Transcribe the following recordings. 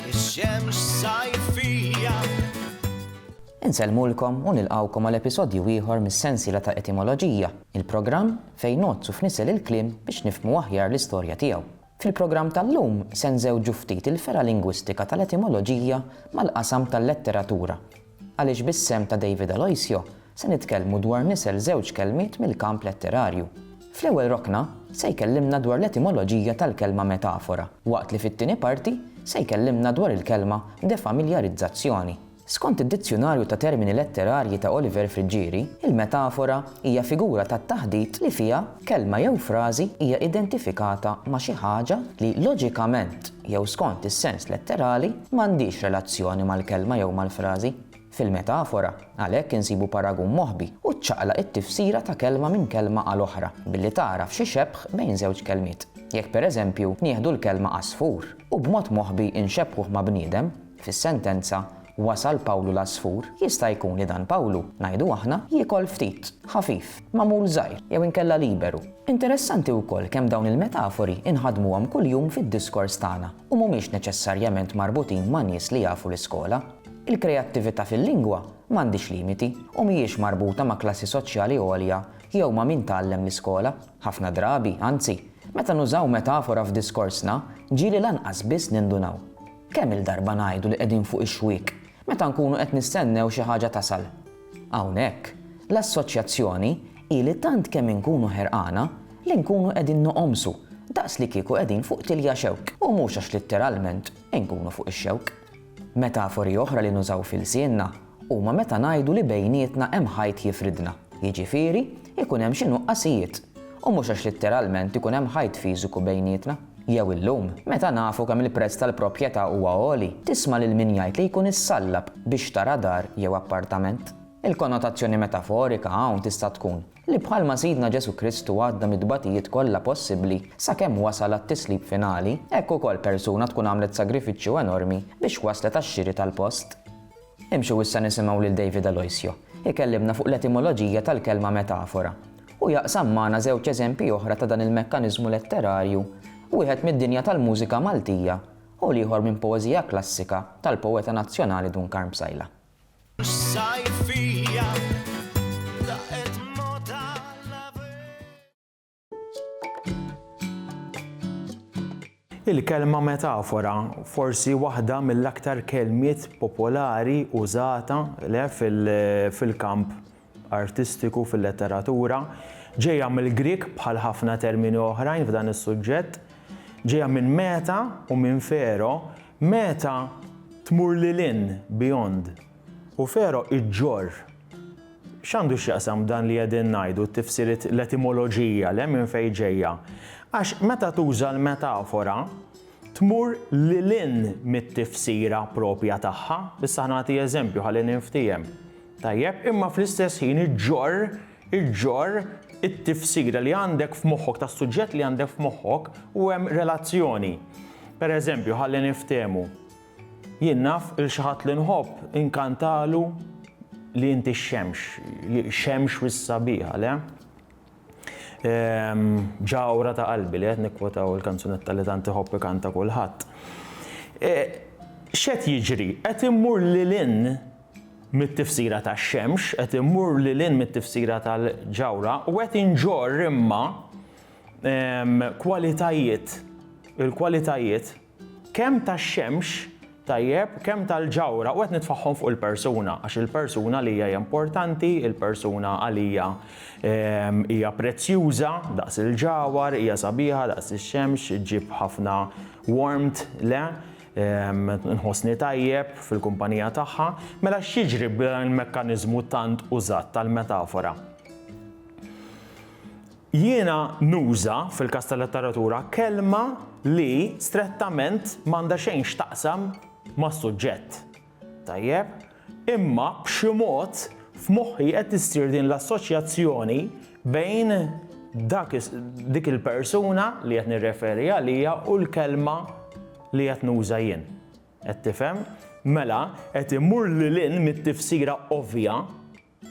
Ix-xemx sajfija. Insellmulkom u nilqgħukom għal episodju ieħor mis-sensiela ta' Etimoloġija, il-programm fejn ngħoddsu f'nisel il-kliem biex nifhmu aħjar l-istorja tiegħu. Fil-programm tal-lum se nżewġu ftit il-fergħa lingwistika tal-etimoloġija mal-qasam tal-letteratura. Għaliex bis-sehem ta' David Aloisio se nitkellmu dwar nisel żewġ kelmiet mill-kamp letterarju. Fl-ewwel rokna se jkellimna dwar l-etimoloġija tal-kelma metafora, waqt li fit-tieni parti se jkellimna dwar il-kelma defamiljarizzazzjoni. Skont id-Dizzjunarju ta' Termini Letterarji ta' Oliver Friggieri, il-metafora hija figura tat-taħdit li fiha Kelma jew frażi hija identifikata ma' xi ħaġa li loġikament jew skont is-sens letterali m'għandhiex relazzjoni mal-kelma jew mal-frażi. Fil-metafora, għalhekk insibu paragun moħbi u ċċaqlaq it-tifsira ta' kelma minn kelma għal oħra billi tagħraf xi xebħ bejn żewġ kelmiet. Jekk pereżempju nieħdu l-kelma għasfur u b'mod moħbi nxebbħuh ma' bniedem, Fis-sentenza, Wasal Pawlu l-għasfur, jista' jkun li dan Pawlu, ngħidu aħna, jiekol ftit, ħafif, magħmul żgħir, jew inkella liberu. Interessanti wkoll kemm dawn il-metafori nħaddmuhom kuljum fid-diskors tagħna u mhumiex neċessarjament marbutin ma' nies li jafu l-iskola. Il-kreattività fil-lingwa m'għandhiex limiti u mhijiex marbuta ma' klassi soċjali għolja jew ma' min tgħallem l-iskola. Ħafna drabi, anzi, meta nużaw metafora f'diskorsna, ġieli lanqas biss nindunaw. Kemm-il darba ngħidu li qegħdin fuq ix-xwiek meta nkunu qed nistennew xi ħaġa tasal. Hawnhekk, l-Assoċjazzjoni hi li tant kemm inkunu ħerqana li nkunu qegħdin noqomsu daqs li kieku qegħdin fuq tilja xewk u mhux għax litteralment inkunu fuq ix-xewk. Metafori oħra li nużaw f'ilsienna huma meta ngħidu li bejnietna hemm ħajt jifridna, jiġifieri, ikun hemm xi nuqqasijiet, u mhux għax litteralment ikun hemm ħajt fiżiku bejnietna. Jew illum, meta nafu kemm il-prezz tal-proprjetà huwa għoli, tisma' lil min jgħid li jkun issallab biex tara dar jew appartament. Il-konnotazzjoni metaforika hawn tista' tkun li bħalma Sidna Ġesù Kristu għadda mit-tbatijiet kollha possibbli sakemm wasal għat-tislib finali, hekk ukoll persuna tkun għamlet sagrifiċċju enormi biex waslet għax-xiri tal-post. Imxu issa nisimgħu lil David Aloisio jkellimna fuq l-etimoloġija tal-kelma metafora. Hu jaqsam magħna żewġ eżempji oħra ta' dan il-mekkaniżmu letterarju, wieħed mid-dinja tal-mużika Maltija u l-ieħor minn poeżija klassika tal-poeta nazzjonali Dun Karm Psaila. Il-kelma metafora forsi waħda mill-aktar kelmiet popolari użata le fil-kamp artistiku fil-letteratura, ġejja mill-Grieg bħal ħafna termini oħrajn f'dan is-suġġett, ġejja minn meta u minn fero, meta tmur lil hinn, beyond, u fero iġġorr. X'għandu x'jaqsam dan li qegħdin ngħidu, t-tifsiriet, l-etimoloġija, le minn fejn ġejja? Għax meta tuża l-metafora, tmur lil hinn mit-tifsira proprja tagħha. Issa nagħti eżempju ħalli ninftiehem. Tajjeb, imma fl-istess ħin iġġorr, iġġorr it-tifsira li għandek f'moħħok tas-suġġett li għandek f'moħħok u hemm relazzjoni. Pereżempju, ħalli niftehmu. Jien naf 'l xi ħadd li nħobb inkantalu li inti x-xemx, xemx wis sabiħa, le? Ehm, ġawra ta' qalbi li qed nikkwotaw il-kanzunetta li tant iħobb ikanta kulħadd. E, x'qed jiġri? Qed immur lilin mit-tifsira tax-xemx, qed immur lilin mit-tifsira tal-ġawra u qed inġorr imma ehm, kwalitajiet il-kwalitajiet Kemm tax-xemx, tajjeb, kemm tal-ġawhra, u qed nitfaħħom fuq il-persuna, għax il-persuna għalija hija importanti, il-persuna għalija hija prezzjuża daqs il-ġawhar, hija sabiħa daqs ix-xemx, ġġib ħafna warmth, le? Nħossni tajjeb fil-kumpanija tagħha. Mela x'jiġri b'dan il-mekkaniżmu tant użat tal-metafora? Jiena nuża, fil-każ tal-letteratura, kelma li strettament m'għandha xejn x'taqsam mas-suġġett. Tajjeb? Imma b'xi mod f'moħħi qed issir din l-assoċjazzjoni bejn dak dik il-persuna li qed nirreferi għaliha u l-kelma li qed nuża jien. Qed tifhem? Mela, qed immur lil hinn mit-tifsira ovvja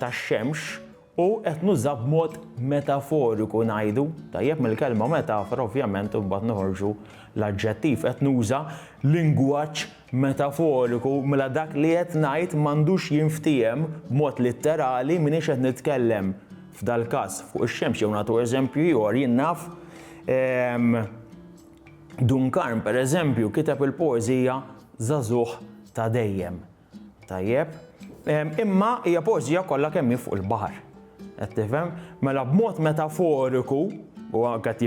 tax-xemx u qed nuża b'mod metaforiku ngħidu, tajjeb, mill-kelma metafora ovvjament imbagħad noħorġu l-aġġettiv, qed nuża lingwaġġ metaforiku mela dak li qed ngħid m'għandux jinftiehem b'mod litterali m'iniex qed nitkellem f'dal-każ fuq ix-xemx jew nagħtu eżempju ieħor jien naf Dunkarn pereżempju kiteb il-poeżija Żagħżugħ ta' dejjem. Tajjeb. Imma hija poeżija kollha kemm hi fuq il-baħar. Qed tifhem? Mela b'mod metaforiku, u qed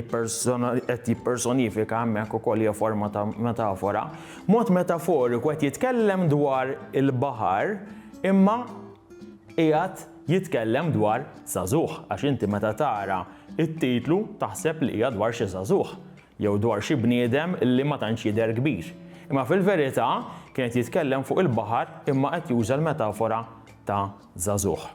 jippersonifika hemmhekk ukoll hija forma ta' metafora, mod metaforiku qed jitkellem dwar il-baħar imma qiegħed jitkellem dwar żagħżugħ għax inti meta tara t-titlu taħseb li hija dwar xi żagħżugħ. jew dwar xi bniedem li ma tantx jidher kbir. Imma fil-verità kien qed jitkellem fuq il-baħar imma qed juża l-metafora ta' żagħżugħ.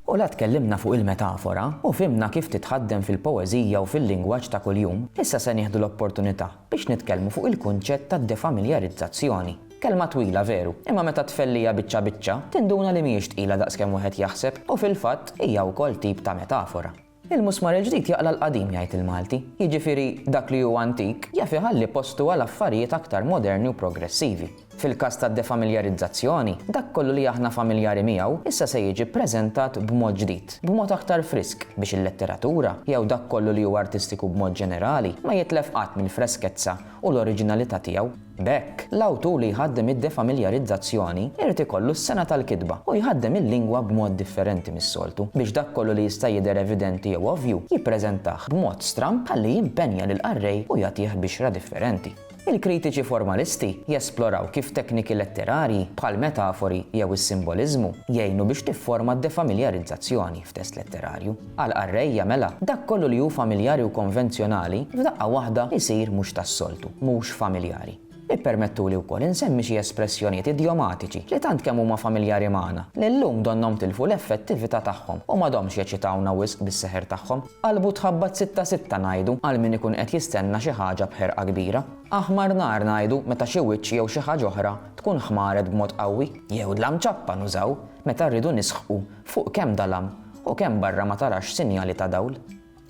U la tkellimna fuq il-metafora u fhimna kif titħaddem fil-poeżija u fil-lingwaġġ ta' kuljum, issa se nieħdu l-opportunità biex nitkellmu fuq il-kunċett tad-defamiljarizzazzjoni. Kelma twila veru, imma meta tfelliha biċċa biċċa, tinduna li mhijiex tqila daqs kemm wieħed jaħseb u fil-fatt hija wkoll tip ta' metafora. Il-musmar il-ġdid jaqla' l-qadim jgħid il-Malti, jiġifieri dak li hu antik jaf iħalli postu għal affarijiet aktar moderni u progressivi. Fil-każ tad-defamiljarizzazzjoni, dak kollu li aħna familjari miegħu issa se jiġi ppreżentat b'mod ġdid, b'mod aktar frisk biex il-letteratura, jew dak kollu li hu artistiku b'mod ġenerali, ma jitlef qatt mill-freskezza u l-oriġinalità tiegħu. B'hekk, l-awtur li jħaddem id-defamiljarizzazzjoni jrid ikollu s-sengħa tal-kitba u jħaddem il-lingwa b'mod differenti mis-soltu biex dak kollu li jista' jidher evidenti jew ovvju jippreżentah b'mod stramb ħalli jimpenja lill-qarrej u jagħtih bixra differenti. Il-kritiċi formalisti jesploraw kif tekniki letterarji, bħall-metafori jew is-simboliżmu, jgħinu biex tifforma d-defamiljarizzazzjoni f'test letterarju. Għall-qarrejja, mela, dak kollu li hu familjari u konvenzjonali, f'daqqa waħda jsir mhux tas-soltu, mhux familjari. Ippermettuli wkoll insemmi xi espressjonijiet idjomatiċi li tant kemm huma familjari magħna, li llum donnhom tilfu l-effettività tagħhom u m'għadhomx jeċitawna wisq bis-seħer tagħhom. Qalbu tħabbat sitta sitta ngħidu għal min ikun qed jistenna xi ħaġa b'ħerqa kbira. Aħmar nar ngħidu meta xi wiċċ jew xi ħaġa oħra tkun ħmaret b'mod qawwi. Jew dlam ċappa nużaw meta rridu nisħqu fuq kemm dalam U kemm barra ma tarax sinjali ta' dawl?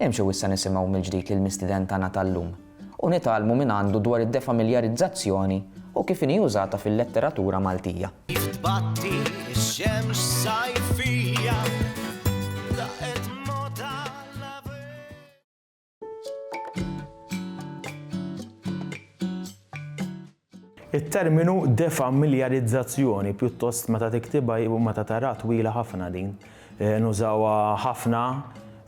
Imxu issa nisimgħu mill-ġdid lill-mistieden tagħna tal-lum u nitgħallmu mingħandu dwar id-defamiljarizzazzjoni u kif inhi użata fil-letteratura Maltija. Kif tbatti x-xemx sajfija, daqqet mgħodd għal-ħabib. It-terminu defamiljarizzazzjoni pjuttost meta tiktibha u meta tara twila ħafna din. Eh, nużawha ħafna,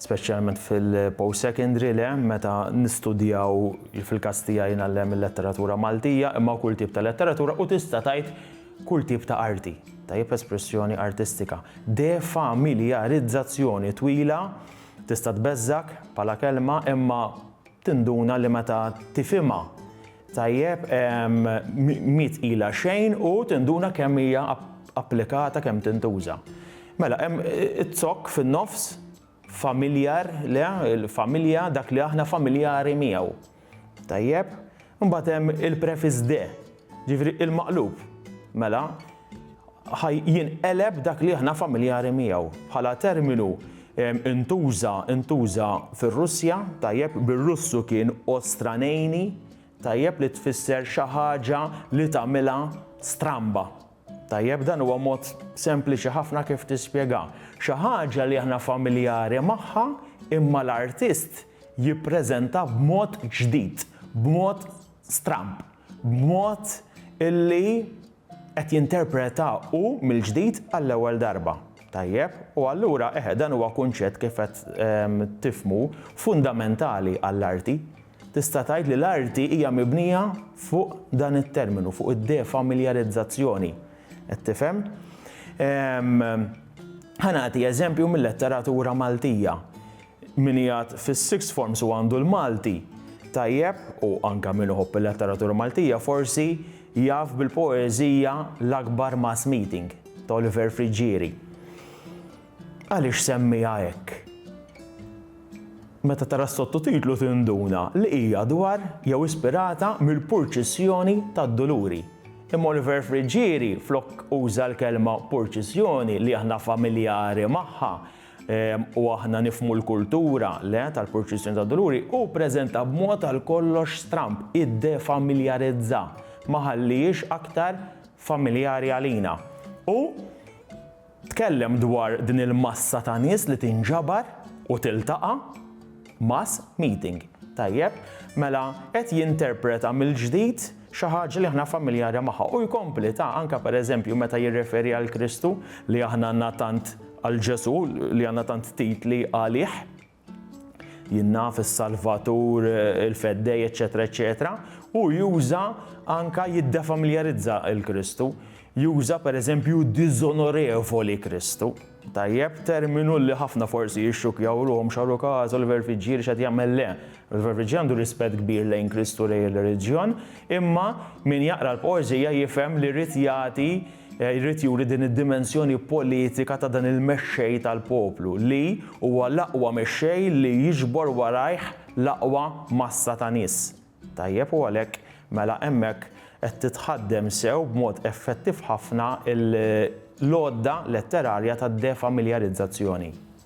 speċjalment fil-post secondary le, meta nistudjaw fil-każ tiegħi nallem il-letteratura Maltija, imma kull tip ta' letteratura u tista' tgħid kull tip ta' arti, tajjeb espressjoni artistika. Defamiljarizzazzjoni twila Tista' tbeżżgħek bħala kelma imma tinduna li meta tifhimha tajjeb mhi tqila xejn u tinduna kemm hija applikata, kemm tintuża. Mela hemm izzokk fin-nofs, familjar, le, familja, dak li aħna familjari miegħu. Tajjeb, imbagħad hemm il-prefiss de, ġifieri il-maqlub. Mela, ħaj jinqeleb dak li aħna familjari miegħu bħala terminu intuża intuża fir-Russja, tajjeb bir-Russu kien ostranejni, tajjeb li tfisser xi ħaġa li tagħmilha stramba. Tajjeb, dan huwa mod sempliċi ħafna kif tispjega xi ħaġa li aħna familjari magħha imma l-artist jippreżentha b'mod ġdid, b'mod stramb, b'mod illi qed jinterpreta hu mill-ġdid għall-ewwel darba. Tajjeb? U allura, eħe, dan huwa kunċett kif qed tifhmu fundamentali għall-arti. Tista' tgħid li l-arti hija mibnija fuq dan it-terminu, fuq id-defamiljarizzazzjoni. Qed tifhem? Ehm, ħa nagħti eżempju mil-letteratura Maltija. Min jgħad fis-sixth forms u għandu l-Malti, tajjeb, u anke min iħobb il-letteratura Maltija forsi jaf bil-poeżija L-Akbar Mass Meeting ta' Oliver Friggieri. Għaliex semmiha hekk? Meta tara s-sottotitlu tinduna li hija dwar jew ispirata mill-purċissjoni tad-duluri. Imma Oliver Friggieri flok uża l-kelma purċissjoni li aħna familjari magħha u aħna nifhmu l-kultura, le, tal-purċissjoni tad-duluri, hu ppreżenta b'mod għal kollox stramb, iddefamiljarizza, ma ħallihiex aktar familjari għalina. U. Tkellem dwar din il-massa ta' nies li tinġabar u tiltaqa', mass meeting. Tajjeb, mela qed jinterpreta mill-ġdid xi ħaġa li aħna familjari magħha u jkompli ta' anke pereżempju meta jirreferi għal Kristu li aħna għandna tant għal Ġesù li għandna tant titli għalih. jien naf is-Salvatur, il-Feddej, eċetera, eċetera, u juża anka jiddefamiljarizza il-Kristu, juża pereżempju diżonorevoli Kristu. Tajjeb, terminu li ħafna forsi jixxukjaw ruhom xaru każ u l-verfiġġier x'qed jagħmel le. Il-verfiġġier għandu rispett kbir lejn Kristu lejn ir-reliġjon, imma min jaqra l-poeżija jifhem li rrid jagħti Jrid juri din id-dimensjoni politika ta' dan il-mexxej tal-poplu li huwa l-aqwa mexxej li jiġbor warajh l-aqwa massa ta' nies. Tajjeb u għalhekk mela hemmhekk qed titħaddem sew b'mod effettiv ħafna l-għodda letterarja tad-defamiljarizzazzjoni.